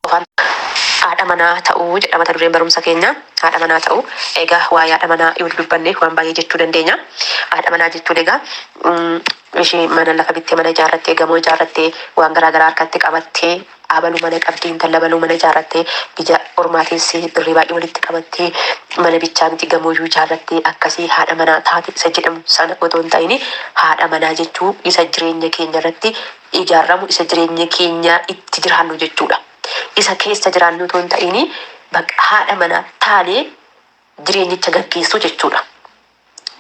Of arg. Haadha manaa ta'uu jedha mata dureen barumsa keenyaa. Haadha manaa ta'uu. Egaa waa'ee haadha manaa yoo dubbanne waan baay'ee jechuu dandeenya. Haadha manaa jechuun egaa ishee mana lafa bittee mana ijaarrattee gamoo ijaarrattee waan garaa garaa harkatti qabattee abalu mana qabdi intalla baluu mana ijaarrattee biyya ormaa teessee birrii baay'ee walitti qabattee mana bichaa miti gamooyyuu ijaarrattee akkasii haadha manaa taate isa jedhamu sana otoo hin ta'in haadha manaa jechuu isa jireenya keenya irratti ijaarramu isa jireenya keenya itti jiraannu jechuudha. Isa keessa jiraannu otoo hin ta'iini bakka haadha manaa taanee jireenyicha gaggeessuu jechuudha.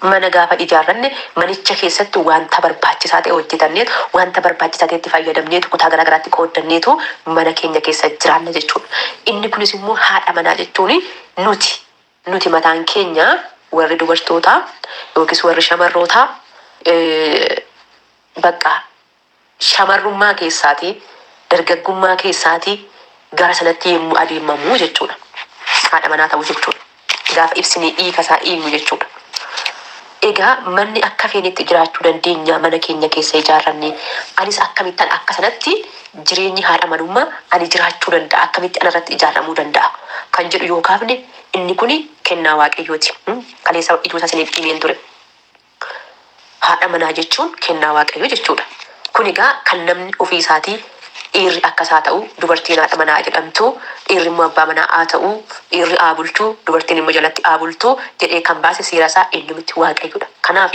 Mana gaafa ijaarranne manicha keessatti wanta barbaachisaa ta'e hojjetanneetu, wanta barbaachisaa ta'etti fayyadamneetu, kutaa garaa garaatti qooddanneetu mana keenya keessa jiraanna jechuudha. Inni kunis immoo haadha manaa jechuun nuti. Nuti mataan keenya warri dubartootaa yookis warri shamarrootaa baqqa shamarrummaa keessaatii, dargaggummaa keessaatii gara sanatti yemmuu adeemamuu jechuudha. Haadha manaa ta'uu jechuun gaafa ibsinee hiika isaa hiiknu jechuudha. Egaa manni akka feenetti jiraachuu dandeenya mana keenya keessa ijaarrannee. Anis akkamittan akka sanatti jireenyi haadha manummaa ani jiraachuu danda'a akkamitti anarratti ijaarramuu danda'a kan jedhu yoo kaafne inni kuni kennaa waaqayyooti. Kaleessa ijoota isiniif himeen ture. Haadha manaa jechuun kennaa waaqayyoo jechuudha. Kun egaa kan namni ofii isaatii dhiirri akka isaa ta'u, dubartiin haadha manaa jedhamtu, dhiirri immoo abbaa manaa haa ta'u, dhiirri haa bulchu, dubartiin immoo jalatti haa bultu jedhee kan baase seera isaa eenyu miti? Waaqayyo dha. Kanaaf,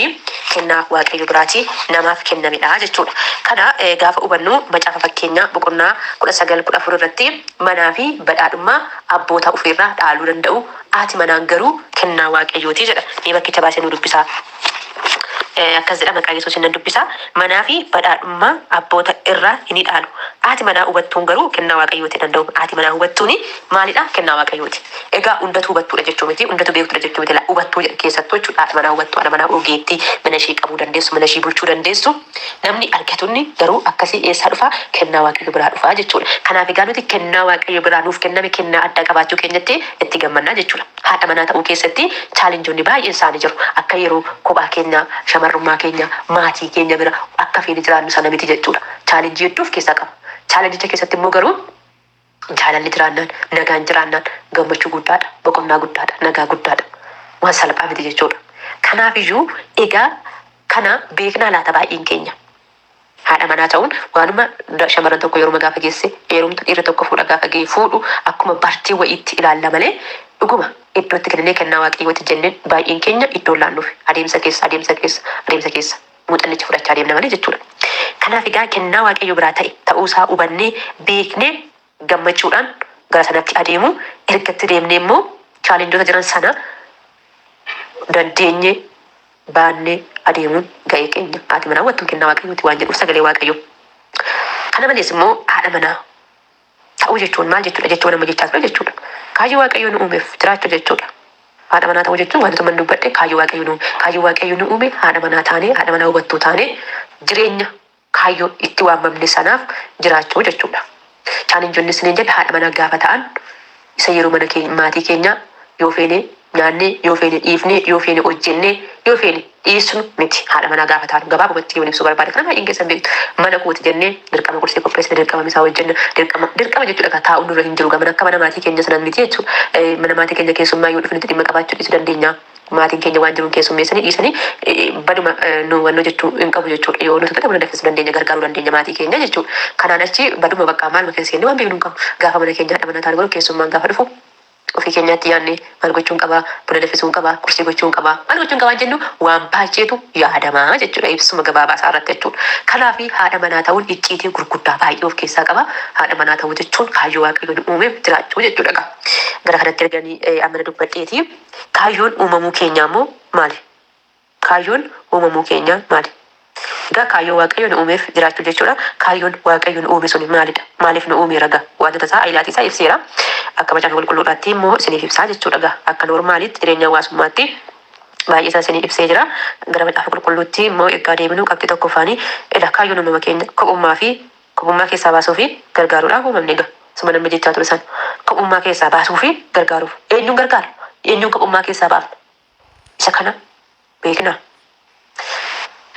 kennaa Waaqayyo biraatii namaaf kenname dha jechuu dha. Kana gaafa hubannu macaafa Fakkeenyaa boqonnaa 19 14 irratti manaa fi badhaadhummaa abboota ofii irraa dhaaluu danda'u, haati manaan garuu kennaa Waaqayyoo ti jedha. Mee bakkicha baasee nuu dubbisaa. Akkas jedha, maqaa Yesuusiin nan dubbisa, manaa fi badhaadhummaa abboota irraa hin idhaalu. Haati manaa hubattuun garuu kennaa Waaqayyooti nan da'u. Haati manaa hubattuun maali dha? Kennaa Waaqayyooti. Egaa hundatu hubattuu dha jechuu miti, hundatu beektu dha jechuu miti, la, hubattuu jedha. Keessattuu jechuudha haati manaa hubattuu, haadha manaa ogeettii, mana ishii qabuu dandeessu, mana ishii bulchuu dandeessu. Namni argatunni garuu akkasii eessaa dhufa? Kennaa Waaqayyo biraa dhufa jechuu dha. Kanaaf egaa nuti kennaa Waaqayyo biraa nuuf kenname, kennaa addaa qabaachuu keenyatti itti gammanna jechuu dha. Haadha manaa ta'uu keessatti chaalenjoonni baay'een isaanii jiru. Akka yeroo kophaa keenya, shamarrummaa keenya, maatii keenya bira akka feene jiraannu sana miti jechuudha. Chaalenjii hedduu of keessaa qaba. Chaalenjicha keessatti immoo garuu jaalalli jiraannaan, nagaan jiraannaan gammachuu guddaadha, boqonnaa guddaadha, nagaa guddaadha. Waan salphaa miti jechuudha. Kanaafiyyuu egaa kana beeknaa laata baay'een keenya? Haadha manaa ta'uun waanuma dha shamarran tokko yeruma gaafa geesse eerumtu dhiirri tokko fuudha gaafa ga'e fuudhu akkuma bartee wayiitti ilaalla malee dhuguma iddoo itti kennine kennaa waaqayyooti jennee baay'een keenya iddoo hin laannuufi adeemsa keessa adeemsa keessa adeemsa keessa muuxannicha fudhachaa deemna malee jechuudha. Kanaaf egaa kennaa waaqayyo biraa ta'e ta'uu isaa hubannee beeknee gammachuudhaan gara sanatti adeemu. Erga itti deemnee immoo chaalenjota jiran sana dandeenye baannee adeemuun ga'ee keenya. Haati manaa wattuu kennaa waaqayyooti waan jedhuuf sagalee waaqayyoo. Kana malees immoo haadha manaa ta'uu jechuun maal jechuudha? Jecha waan amma jechaa ture jechuudha. Kaayyoo waaqayyoo nu uumeef jiraachuu jechuudha. Haadha manaa ta'uu jechuun wantoota man dubbadhe kaayyoo waaqayyoo nu kaayyoo waaqayyoo nu uume haadha manaa taanee haadha manaa hubattuu taanee jireenya kaayyoo itti waamamne sanaaf jiraachuu jechuudha. Challenge isiniin jedhe haadha manaa gaafa ta'an isa yeroo mana keenya maatii keenyaa yoo feene nyaannee, yoo feene dhiifnee, yoo feene hojjennee, yoo feene dhiisnu miti. Haadha manaa gaafa ta'an gabaabumatti yoon ibsuu barbaade kana baay'een keessan beektu. Mana kooti jennee dirqama qursii qopheessina, dirqama misaa hojjenna, dirqama dirqama jechuudha egaa taa'uun nurra hin jiru egaa mana akka mana maatii keenya sanas miti jechuudha. Mana maatii keenya keessummaa yoo dhufanitti dhimma qabaachuu dhiisuu dandeenya. Maatiin keenya waan jiruun keessummeessanii dhiisanii baduma nu wanno jechuu hin qabu jechuudha. Yoo nuti fedhe buna danfisuu dandeenya, gargaaruu dandeenya maatii keenya jechuudha. Kanaan achi baduma bakka maaluma keessa seenne waan beeknu hin qabnu. Gaafa mana keenya haadha manaa taanu garuu keessummaan gaafa dhufu ofii keenyaatti yaadne maal gochuun qaba, buna danfisuun qaba, kursii gochuun qaba, maal gochuun qabaan jennu waan baay'eetu yaadama jechuudha ibsuma gabaabaa isaa irratti jechuudha. Kanaaf haadha manaa ta'uun icciitii gurguddaa baay'ee of keessaa qaba. Haadha manaa ta'uu jechuun kaayyoo Waaqayyo nu uumeef jiraachuu jechuudha. Egaa gara kanatti erganii ammana dubbadheeti. Kaayyoon uumamuu keenyaa immoo maali? Kaayyoon uumamuu keenyaa maali? Egaa kaayyoo Waaqayyo nu uumeef jiraachuu jechuudha. Kaayyoon Waaqayyo nu uume suni maalidha? Maaliif nu uumeera egaa? Waantota isaa ailaatii isaa ibseera. Akka Macaafa Qulqulluudhaattii immoo isiniif ibsaa jechuudha egaa. Akka noormaaliitti jireenya hawaasummaatti baay'ee isaa isinii ibsee jira. Gara Macaafa Qulqulluuttii immoo eggaa deebinu qabxii tokkoffaani, Ela kaayyoon uumama keenya kophummaa fi Kophummaa keessaa baasuu fi gargaaruudhaaf uumamne egaa. Suma namni jechaa ture sana. Kophummaa keessaa baasuu fi gargaaruuf. Eenyuun gargaarra? Eenyuun kophummaa keessaa baafna? Isa kana beeknaa?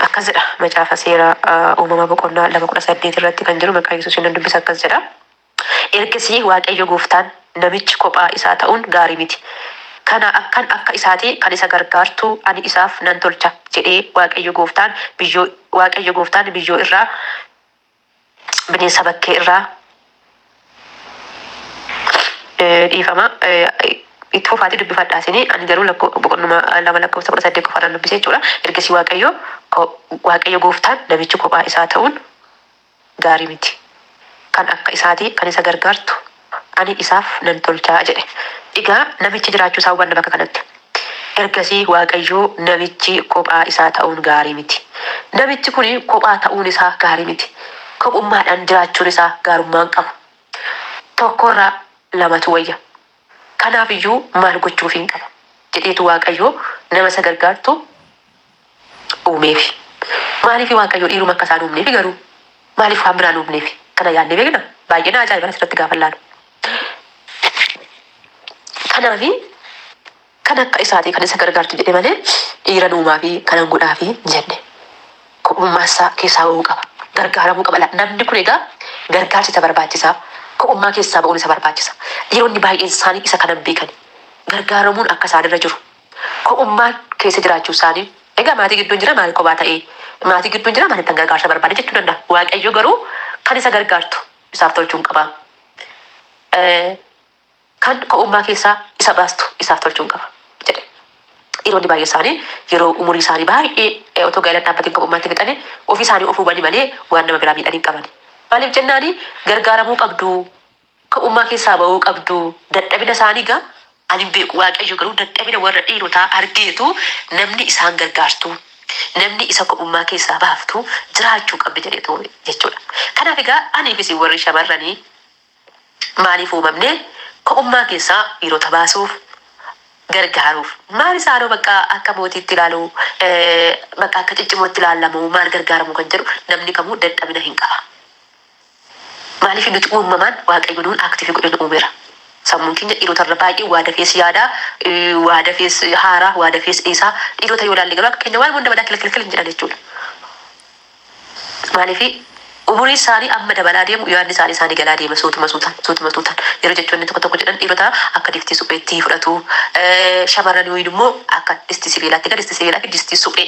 Akkas jedha macaafa seera uumama boqonnaa 2 18 irratti kan jiru maqaa Yesuusiin nan dubbisa akkas jedha. Ergasii Waaqayyo gooftaan namichi kophaa isaa ta'uun gaarii miti. Kanaa akkan akka isaatii kan isa gargaartu ani isaaf nan tolcha jedhee Waaqayyo gooftaan biyyoo Waaqayyo gooftaan biyyoo irraa bineensa bakkee irraa eh, dhiifama eh, itti fufaati dubbifadhaa isinii ani garuu lakkoo boqonnuma eh, lama lakkoofsa kudha saddeet qofaadhaan dubbise jechuudha ergasii waaqayyo ko- waaqayyo gooftaan namichi kophaa isaa ta'uun gaarii miti kan akka isaatii kan isa gargaartu ani isaaf nan tolcha jedhe. Egaa namichi jiraachuu isaa hubanna bakka kanatti. Ergasii Waaqayyo namichi kophaa isaa ta'uun gaarii miti. Namichi kun kophaa ta'uun isaa gaarii miti. Kophummaadhaan jiraachuun isaa gaarummaa hin qabu. Tokko irra lamatu wayya. Kanaaf iyyuu maal gochuufiin qaba? jedheetu Waaqayyo nama isa gargaartu. uumeefi? Maaliif Waaqayyo dhiiruma akka isaa hin uumneefi garuu? Maaliif waan biraa hin uumneefi? Kana yaadnee beeknaa? Baay'ee na ajaa'iban asirratti gaafan laalu. Kanaafi kan akka isaati kan isa gargaartu jedhe malee dhiiran uumaafi kanan godhaafi hin jenne. Kophummaa isaa keessaa ba'uu qaba. Gargaaramuu qaba. La- Namni kun egaa gargaarsi isa barbaachisa. Kophummaa keessaa ba'uun isa barbaachisa. Dhiironni baay'een isaanii isa kanan beekani. Gargaaramuun akka isaanirra jiru ko'ummaan keessa jiraachuu isaanii egaa maatii gidduun jira maal kophaa ta'ee maatii gidduun jira maalittan gargaarsa barbaade jechuu danda'a waaqayyo garuu kan isa gargaartu isaaf tolchuun qaba kan ko'ummaa keessaa isa baastu isaaf tolchuun qaba jedhe dhiironni baay'ee isaanii yeroo umurii isaanii baay'ee otoo gaa'ela dhaabbatiin ko'ummaatti fixanii ofii isaanii of hubanii malee waan nama biraa miidhan hin qaban maaliif jennaanii gargaaramuu qabduu Dukka'ummaa keessaa ba'uu qabdu. Dadhabina isaanii egaa ani hin beeku, Waaqayyo garuu dadhabina warra dhiirotaa argeetu namni isaan gargaartu, namni isa kophummaa keessaa baaftu jiraachuu qabdi jedheetu uume jechuudha. Kanaaf egaa anii fi isin warri shamarranii maaliif uumamne? Kophummaa keessaa dhiirota baasuuf, gargaaruuf. Maal isaanoo bakka akka mootiitti ilaalu, bakka akka ciccimootti ilaalla moo maal gargaara moo kan jedhu namni kamuu dadhabina hin qaba. Maaliif nuti uumamaan Waaqayyo nuun active godhe nu uumera. Sammuun keenya dhiirota irra baay'ee waa dafees yaada, waa dafees haara, waa dafees dhiisa. Dhiirota yoo ilaalle garuu akka keenya waan hunda madaa kilkilkil hin jedhan jechuudha. Maaliif umuriin isaanii amma dabalaa deemu yaadni isaanii isaanii galaa deema suutuma suutaan suutuma suutaan. Yeroo jechoonni tokko tokko jedhan dhiirota akka distii supheetti fudhatu. Shamarran wayiin immoo akka distii sibiilaatti egaa distii sibiilaa fi distii suphee.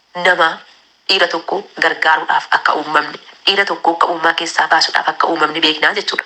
namaa dhiira tokkoo gargaaruudhaaf akka uummamne, dhiira tokkoo akka uumaa keessaa baasuudhaaf akka uumamne beeknaa jechuudha.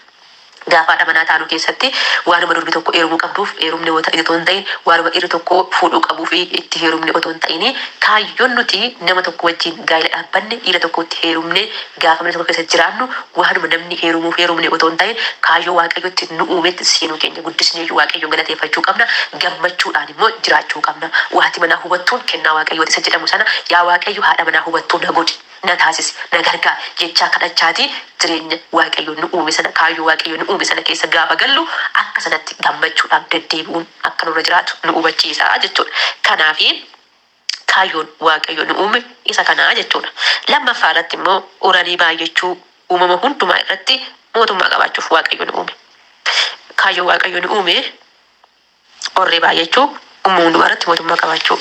Gaafa haadha manaa taanu keessatti waanuma durbi tokko eerumuu qabduuf eerumne yoo ta'e otoo hin ta'in, waanuma dhiirri tokko fuudhuu qabuufi itti heerumne otoo hin ta'ini, kaayyoon nuti nama tokko wajjin gaa'ila dhaabbanne dhiira tokkotti heerumnee, Gaafa mana tokko keessa jiraannu waanuma namni heerumuuf heerumne otoo hin ta'iin kaayyoo Waaqayyo ittiin nu uumetti seenuu keenya guddisneeyyuu Waaqayyoon galateeffachuu qabna, gammachuudhaan immoo jiraachuu qabna. Waati manaa hubattuun kennaa Waaqayyooti isa jedhamu sana yaa Waaqayyo haadha manaa hubattuu na godhi, na taasisi, na gargaari jechaa kadhachaatii jireenya Waaqayyo nu uume sana kaayyoo Waaqayyo nu uume sana keessa gaafa gallu akka sanatti gammachuudhaaf deddeebi'uun akka nurra jiraatu nu hubachiisa jechuudha. Kanaafi. kaayyoon Waaqayyo nu uume isa kana jechuudha. Lammaffaa irratti immoo uranii baay'achuu uumama hundumaa irratti mootummaa qabaachuuf Waaqayyo nu uume. Kaayyoo Waaqayyo nu uume orree baay'achuu uumama hundumaa irratti mootummaa qabaachuu.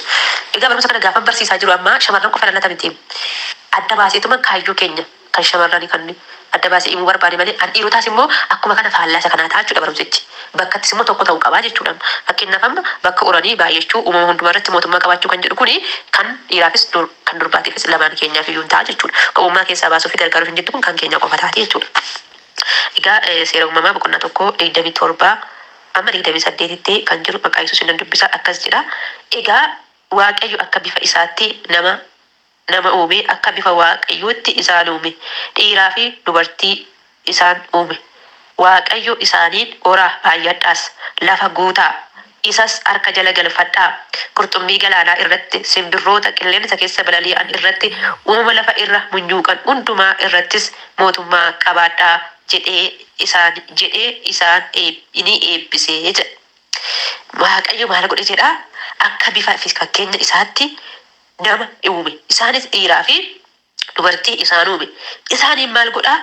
Egaa barumsa kana gaafan barsiisaa jiru ammaa shamarran qofa ilaalata miti. Adda baaseetuma kaayyoo keenya kan shamarrani kan inni adda baase imuu barbaade malee an dhiirotaas immoo akkuma kana faallaa isa kanaa ta'a jechuudha barumsichi bakkattis immoo tokko ta'u qabaa jechuudha fakkeennaaf amma bakka uranii baay'achuu uumama hundumaa irratti mootummaa qabaachuu kan jedhu kuni kan dhiiraafis dur kan durbaatiifis lamaan keenyaaf iyyuu hin ta'a jechuudha kophummaa keessaa baasuu fi gargaaruu ishin jettu kun kan keenyaa qofa taati jechuudha egaa seera uumamaa boqonnaa 1 27 amma 28tti kan jiru maqaa yesuusin nan dubbisa akkas jedha egaa waaqayyo akka bifa isaatti nama nama uume, akka bifa Waaqayyootti isaan uume, dhiiraa fi dubartii isaan uume. Waaqayyo isaaniin, Horaa, baay'adhaas, lafa guutaa, isas harka jala galfadhaa, qurxummii galaanaa irratti, simbirroota qilleensa keessa balali'an irratti, uumama lafa irra munyuuqan hundumaa irrattis mootummaa qabaadhaa jedhee isaan jedhee isaan ni eebbise jedha. Waaqayyo maal godhe jedhaa? Akka bifa fi fakkeenya isaatti nama in uume, isaanis dhiiraa fi dubartii isaan uume, isaaniin maal godhaa?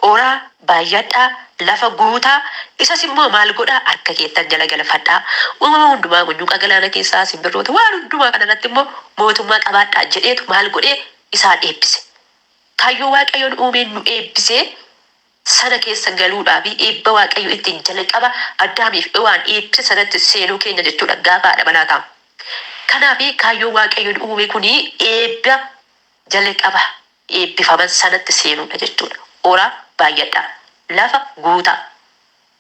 Horaa, baay'adhaa, lafa guutaa, isas immoo maal godhaa? Harka keessan jala galfadhaa, uumama hundumaa, munyuuqa galaana keessaa, simbirroota, waan hundumaa kana irratti immoo mootummaa qabaadhaa jedheetu maal godhee? Isaan eebbise. Kaayyoo Waaqayyoon uumeen nu eebbisee. sana keessa galuudhaafi eebba Waaqayyo ittiin jalqaba Addaamiif Hewaan eebbise sanatti seenuu keenya jechuudha gaafa haadha manaa taanu. Kanaafi kaayyoon Waaqayyo nu uume kun eebba jalqaba eebbifaman sanatti seenuudha jechuudha. Horaa, baayyadhaa. Lafa guutaa.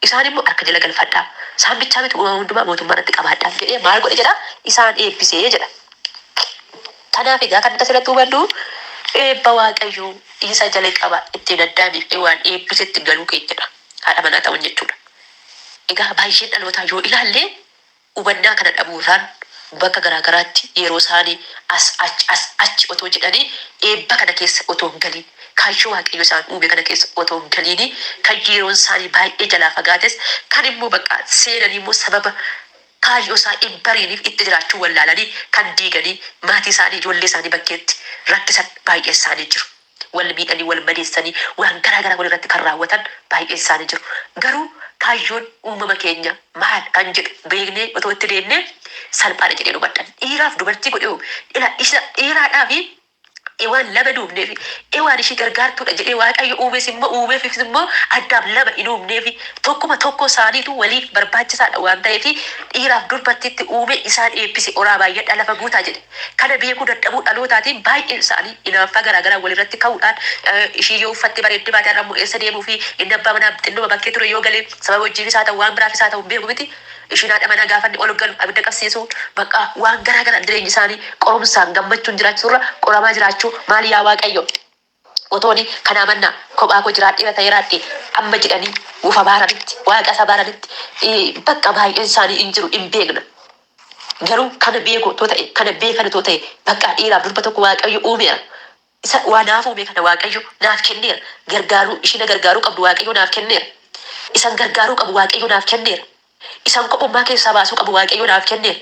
Isaan immoo, Harka jala galfadhaa, isaan bichaa miti uumama hundumaa mootummaa irratti qabaadhaa jedhee maal godhe jedha? Isaan eebbise jedha. Kanaaf egaa kan nuti asirratti hubannu eebba Waaqayyoo isa jalqaba ittiin Addaamiif Hewaan eebbisetti galuu keenyadha. Haadha manaa ta'uun jechuudha. Egaa baay'een dhalootaa yoo ilaalle Hubannaa kana dhabuurraan bakka garaa garaatti yeroosaanii as achi as achi otoo jedhanii eebba kana keessa otoo hin galiin, kaayyoo Waaqayyo isaan uume kana keessa otoo hin galiinii, kan yeroonsaanii baay'ee jalaa fagaates, kan immoo bakka seenanii immoo sababa kaayyoosaa hin bariiniif itti jiraachuu wallaalanii kan diiganii maatiisaanii, ijoolleesaanii bakkeetti rakkisan baay'eensaanii jiru. Wal miidhanii, wal madeessanii, waan garaa garaa wal irratti kan raawwatan baay'een isaanii jiru. Garuu kaayyoon uumama keenya maal kan jedhu beeknee otoo itti deemnee salphaa dha jedheen hubadha. Dhiiraaf dubartii godhee uume. Ilaa isa dhiiraadhaa fi Hewaan lama hin uumneefi. Hewaan ishii gargaartuu dha jedhee Waaqayyo uumes immoo uumeefis immoo Addaam lama hin uumneefi. Tokkuma tokkoo isaaniitu waliif barbaachisaa dha waan ta'eefi dhiiraaf durbartiitti uume isaan eebbise horaa baay'adhaa lafa guutaa jedhe. Kana beekuu dadhabuu dhalootaatiin baay'een isaanii inaaffaa garaa garaan walirratti ka'uudhaan ishii yoo uffattee bareeddee baate har'a immoo eessa deemuufi inni abbaa manaa xinnuma bakkee ture yoo gale sababa hojiifis haa ta'u waan biraafis haa ta'u hin beeku miti ishiin haadha manaa gaafa inni ol galu abidda qabsiisuu bakka waan garaa garaan jireenyi isaanii qorumsaan gammachuun jiraachuurra qoramaa jiraachuu maal yaa waaqayyo Otooni kanaa mannaa kophaa koo jiraadheera ta'ee raadhee amma jedhanii of abaaranitti, Waaqa isa abaaranitti, baqqa baay'een isaanii in jiru, in beekna. Garuu kana beeku otoo ta'ee, kana beekan otoo ta'ee, baqqaa dhiiraaf durba tokko Waaqayyo uumeera. Isa waa naaf uume kana Waaqayyo naaf kenneera. Gargaaruu, ishii na gargaaruu qabdu Waaqayyoo naaf kenneera. Isan gargaaruu qabu Waaqayyoo naaf kenneera. Isaan kophummaa keessaa baasuu qabu Waaqayyo naaf kenneera,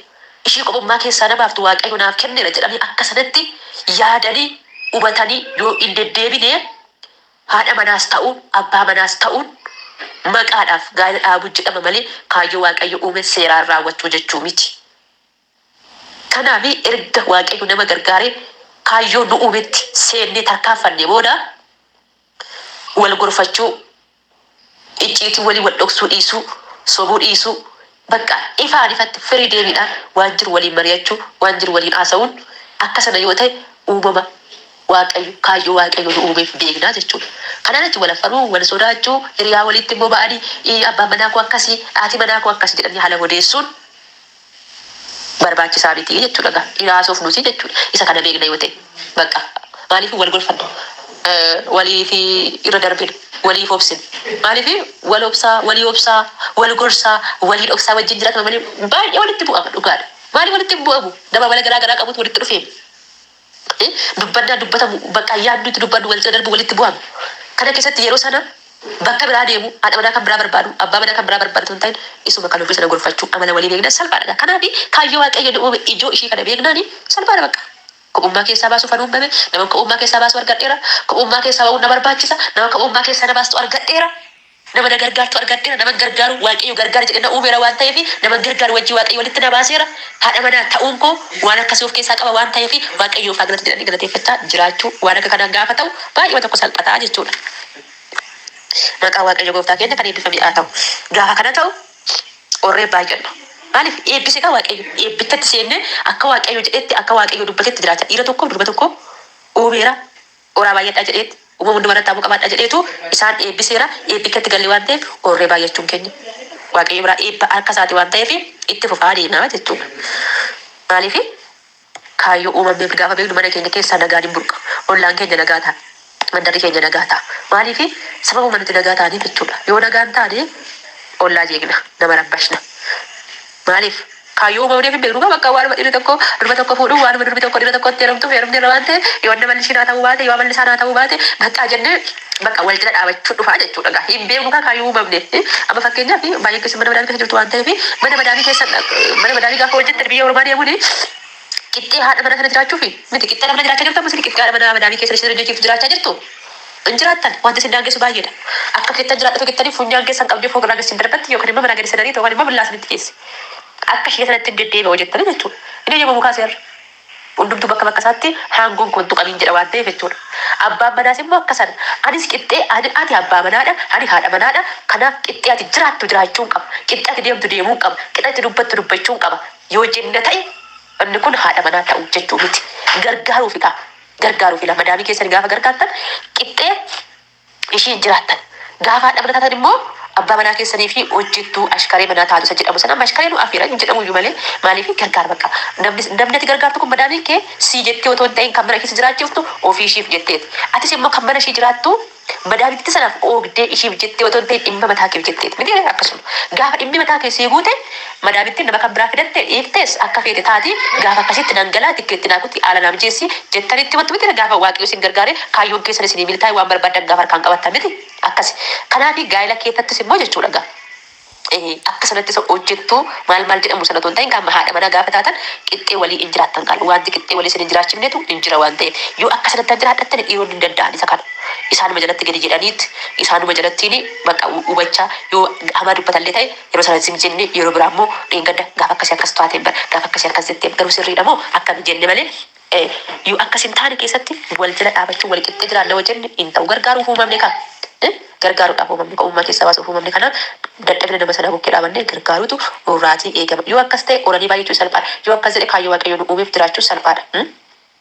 ishii kophummaa keessaa na baaftu Waaqayyo naaf kenneera jedhanii akka sanatti yaadanii, hubatanii yoo hin deddeebine haadha manaas ta'uu, abbaa manaas ta'uun maqaadhaaf gaa'ila dhaabuu jedhama malee kaayyoo Waaqayyo uume seeraan raawwachuu jechuu miti. Kanaaf erga Waaqayyo nama gargaaree kaayyoo nu uumetti seennee tarkaanfannee booda wal gorfachuu, icciitii walii wal dhoksuu dhiisuu, sobuu dhiisuu, bakka ifaan ifatti firii deebiidhaan waan jiru waliin mari'achuu, waan jiru waliin haasa'uun akka sana yoo ta'e uumama Waaqayyo, kaayyoo Waaqayyo nu uumeef beekna jechuudha. Kanaan achi wal affaruu, wal sodaachuu, hiriyaa waliitti immoo ba'anii abbaan manaa koo akkasi, haati manaa koo akkasi jedhanii haala odeessuun, barbaachisaa miti jechuudha egaa dhiraa hasoofnusi jechuudha isa kana beekna yoo ta'e baqqa maaliif wal gorfanna waliif irra darbina waliif obsina maaliif wal obsaa walii obsaa wal gorsaa waliin obsaa wajjin jiratama malee baay'ee walitti bu'ama dhugaadha maaliif walitti hin bu'amu nama amala garaa garaa qabutu walitti dhufeemi dubbannaa dubbatamu, bakka yaadni itti dubbadhu, wal cina darbu, walitti bu'anu kana keessatti yeroo sana bakka biraa deemu, haadha manaa kan biraa barbaadu, abbaa manaa kan biraa barbaadu utuu hin ta'in isuma kan ofii sana gorfachuu, amala walii beeknaan salphaadha egaa. Kanaafi kaayyoo Waaqayyo nu uume ijoo ishii kana beeknaani salphaadha baqqa. Kophummaa keessaa baasuuf an uummame, naman kophummaa keessaa baasu argadheera, kophummaa keessaa ba'uun na barbaachisa, nama kophummaa keessaa na baastu argadheera. Nama na gargaartu argadheera, naman gargaaru Waaqayyo gargaara jedhee na uumeera waan ta'eef, naman gargaaru wajjin Waaqayyo walitti na baaseera. Haadha manaa ta'uun koo waan akkasii of keessaa qaba waan ta'eef, Waaqayyoof haa galatu jedhanii galateeffachaa jiraachuu waan akka kanaa gaafa ta'u baay'eema tokko salphata jechuudha. Maqaan Waaqayyo gooftaa keenya kan eebbifame haa ta'u. Gaafa kana ta'u qorree baay'anna. Maaliif eebbise kan Waaqayyo eebbichatti seennee akka Waaqayyo jedhetti, akka Waaqayyo dubbatetti jiraachaa dhiira tokkoof durba tokko uumeera. Horaa baay'adhaa jedheet, uumama hundumaa irratti aangoo qabaadhaa jedheetu isaan eebbiseera. Eebbi akkatti galle waan ta'eef horree baay'achuun keenya Waaqayyo biraa eebba harka isaati waan ta'eef itti fufaa adeemaa jechuudha. Maaliif? Kaayyoo uumamneef gaafa beeknu mana keenya keessaa nagaan hin burqa. Ollaan keenya nagaa ta'a. Mandarri keenya nagaa ta'a. Maaliif? Sababuma nuti nagaa taaneef jechuudha. Yoo nagaa hin taane ollaa jeeqna, nama rabbashna. Maaliif? Kaayyoo uumamneef hin beeknu gaa bakka waanuma dhirri tokko durba tokko fuudhu, waanuma durbi tokko dhira tokkotti heerumtuuf heerumneerra waan ta'eef yoo inni amalli ishii naa ta'uu baate, yoo amalli isaa naa ta'uu baate baqqaa jennee bakka wal cina dhaabachuu dhufaa jechuudha gaa. Hin beeknu kaa kaayyoo uumamneef. Amma fakkeenyaaf baay'een keessan mana madaamii keessa jirtu waan ta'eef mana madaamii keessan mana madaamii gaafa hojjettan biyya ormaa deemuun Qixxee haadha manaa kana jiraachuufi? Miti. Qixxee haadha manaa jiraachaa jirtu ammas qixxee haadha manaa madaamii keessa ishee jirtu jiraachaa jirtu? Hin jiraattan. Wanti isin daangessu baay'eedha. Akka feettan jiraadha otoo jettanii funyaan keessan qabdee fooq irraa gad isin darbatti yookaan immoo manaa gad isin ariiti yookaan immoo billaa isinitti geessi. Akka ishee sanattin deddeebi'a jettanii jechuudha. Hin eeyyamamu kaa seerri. Hundumtuu bakka bakka isaatti haangoon koo hin tuqamiin jedha waan ta'eef jechuudha. Abbaan manaas immoo akka sana. Anis qixxee ani ati abbaa manaadha, ani haadha manaadha. Kanaaf qixxee ati jiraattu jiraachuun qaba. Qixxee ati deemtu deemuun qaba. Qixa ati dubbattu dubbachuun qaba. Yoo jenna ta'e inni kun haadha manaa ta'u jechuu miti. Gargaaruufidha. Gargaaruufidha. Madaamii keessan gaafa gargaartan qixxee ishiin jiraattan. Gaafa haadha mana taatan immoo abbaa manaa keessanii fi hojjettuu ashkaree manaa taatu isa jedhamu sana amma ashkaree nu afeera hin jedhamu iyyuu malee maaliif gargaar bakka namni namni ati gargaartu kun madaamiin kee sii jettee otoo hin ta'in kan mana keessa jiraachiftu ofii ishiif jetteeti atis immoo kan mana ishii jiraattu Madaa bitti sanaaf oogdee ishiif jettee otoo hin ta'in dhimma mataa keef jetteeti. Miti ree? Akkasuma. Gaafa dhimmi mataa kee sii guute madaa bittin nama kan biraa fidatte dhiiftees akka feete taati gaafa akkasitti nan galaa tikkeetti naa kuti haala naa mijeessi jettani itti himattu miti ree? Gaafa Waaqayyo isin gargaaree kaayyoon keessan isinii milkaa'e waan barbaaddan gaafa harkaan qabattan miti? Akkasi. Kanaafi gaa'ila keessattis immoo jechuudha egaa. akka sanatti isa hojjettu maal maal jedhamu sana otoo hin ta'in qaama haadha manaa gaafa taatan qixxee walii hin jiraattan qaala. Wanti qixxee walii isin hin jiraachifnetu hin jira waan ta'eef. Yoo akka sanatti an jiraadhattani dhiironni hin danda'an isa kana. Isaanuma jalatti gadi jedhaniit isaanuma jalattiini baqa hubachaa yoo hamaa dubbatallee ta'e yeroo sana zim jennee yeroo biraa immoo dheengadda gaafa akkasii akkas taateen bara gaafa akkasii akkas jetteen garuu sirriidha moo akkami jenne malee e. Yoo akkas hin taane keessatti wal jala dhaabachuu wali qixxee jiraanna yoo jenne hin ta'u. Gargaaruuf uumamne kaa. e. Gargaaruudhaaf uumamne ko'ummaa keessaa baasuuf uumamne kanaaf dadhabina nama sanaa bukkee dhaabannee gargaaruutu nurraatii eegama. Yoo akkas ta'e oranii baay'achuun salphaadha. Yoo akkas jedhe kaayyoo Waaqayyoo nu uumeef jiraachuun salphaadha. e.